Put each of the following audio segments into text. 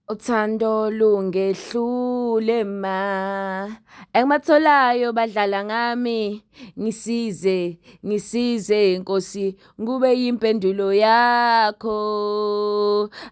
Uthando lungehlule ma engibatholayo badlala ngami ngisize ngisize nkosi kube yimpendulo yakho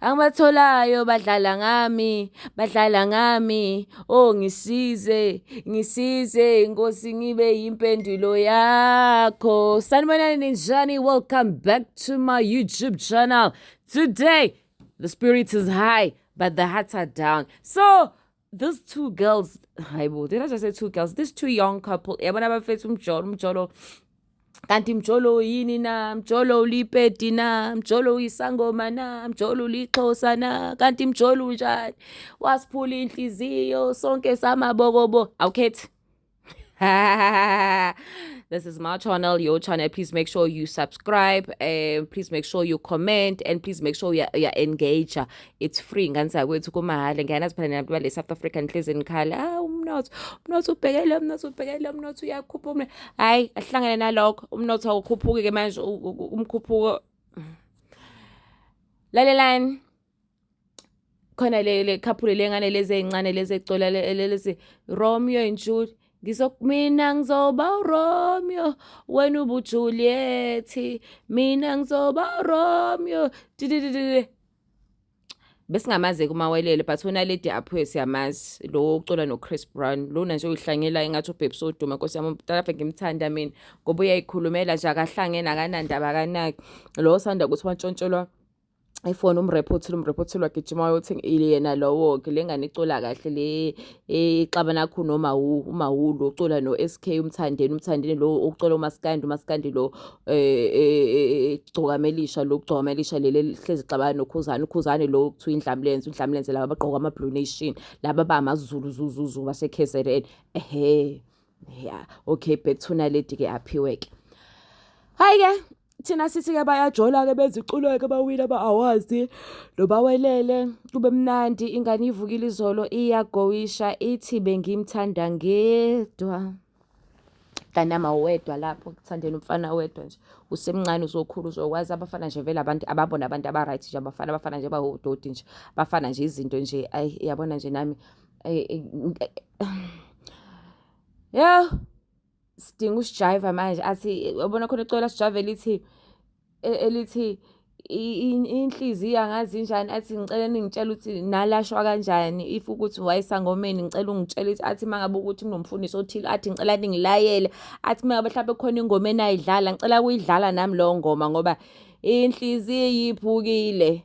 angibatholayo badlala ngami badlala ngami oh ngisize ngisize nkosi ngibe yimpendulo yakho sanibonani ninjani welcome back to my youtube channel today the spirit is high but the hearts are down so these two girls hayibo did i just say two girls these two young couple yabona abafethu umjolo umjolo kanti mjolo yini na mjolo ulipedi na mjolo uyisangoma na mjolo ulixhosa na kanti mjolo unjani wasiphula inhliziyo sonke samabokobo awukhethi this is my channel, your channel. Please make sure you subscribe. Uh, please make sure you comment. And please make sure you're, you're engaged. It's free. Nganisa kwethu kumahhala. Ngiyana siphana nabantu bale South African inhlizi nikhala. Ah umnotho. Umnotho ubhekele umnotho ubhekele umnotho uyakhupha umnotho. Hayi, ahlangene nalokho. Umnotho awukhuphuki ke manje umkhuphuko. Lalelani. khona le le couple lengane lezi ezincane lezi ezicola lezi Romeo and Juliet ngizo mina ngizoba uRomeo wena ubuJuliet mina ngizoba uRomeo besingamazi kumawelele but unaledi aphuye siyamazi lo ucula nochris brown lona nje uyihlangela engathi ubhebhi sodume nkosi yami umtalafe ngimthanda mina ngoba uyayikhulumela nje akahlangene akanandaba akanaki lo osanda ukuthi wantshontshelwa ifoni umrepha othile umrepha othile wagijima wayothi yena lowo-ke le ngane icula kahle le ixaba nakho nomawu umawu lo ucula no-s k umthandeni umthandeni lo ukucula umasikandi umasikandi lo igcokamelisha lo kugcokamelisha leli hlezi xabana nokhuzane ukhuzane lo okuthiwa indlamlenze undlamlenze laba abagqoka ama-blue nation laba bamazulu zuzuzu base-k z n ehe yeah okay back to naledi ke aphiwe ke hayi ke thina sithi ke bayajola ke beziculo ke bawile ba awazi lobawelele kube mnandi ingane ivukile izolo iyagowisha ithi bengimthanda ngedwa kanama wedwa lapho kuthandeni umfana wedwa nje usemncane uzokhula uzokwazi abafana nje vele abantu ababona abantu abaright nje abafana abafana nje bawudoti nje bafana nje izinto nje ayi yabona nje nami Yo sidinga usijayiva manje athi yabona khona icwecwe lasijayiva elithi e, elithi inhliziyo angazi injani athi ngicela ningitshela ukuthi nalashwa kanjani if ukuthi wayesangomeni ngicela ungitshela ukuthi athi uma ngabe ukuthi kunomfundisi othile athi ngicela ningilayele athi uma ngabe mhlawumbe khona ingoma enayidlala ngicela kuyidlala nami leyo ngoma ngoba inhliziyo iphukile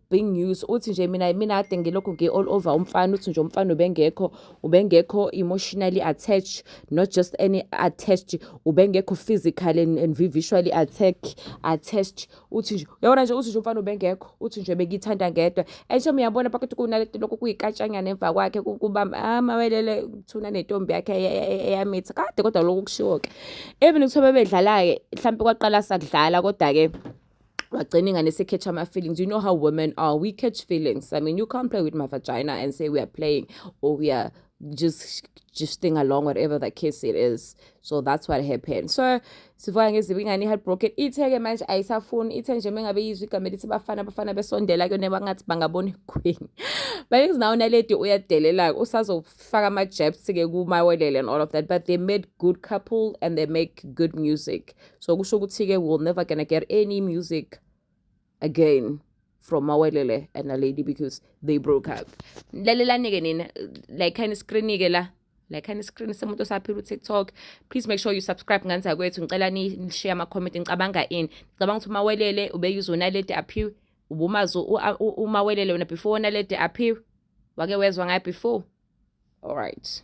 big news uthi nje mina mina ade ngilokhu ngi all over umfana uthi nje umfana ubengekho ubengekho emotionally attached not just any attached ubengekho physical and, and visually attack attached uthi nje yabona nje uthi nje umfana ubengekho uthi nje bekithanda ngedwa esho uyabona phakathi kunalento lokhu kuyikatshanyana emva kwakhe kuba amawelele ah, kuthuna nentombi yakhe eyamitha kade kodwa lokhu kushiwo ke even kuthiwa bebedlala ke mhlawumbe kwaqala sakudlala kodwa ke wagcina ingane ese-catch ama-feelings you know how women are we catch feelings i mean you can't play with my vagina and say we are playing or we are just just staying along whatever the case it is so that's what happened so sivuka ngezibi ingane i-heartbroken ithe-ke manje ayisafuni ithe nje mengabe yizwa igama elithi bafana bafana besondela kuyona bangathi bangabona iqueen but is now naledi uyadelela-ke usazofaka ama-jabs-ke kumawelele and all of that but they made good couple and they make good music so kusho ukuthi-ke we will never gonna get any music again from mawelele and a lady because they broke up lalelani-ke nina like khani screen-ke la like khani screen semuntu osaphila utiktok please make sure you subscribe nganza kwethu ngicela nishiye ama-comment ngicabanga ini ngicabanga ukuthi umawelele ubeyuze unaledi aphiwe ubumazi umawelele wena before unaledi aphiwe wake wezwa ngayo before all right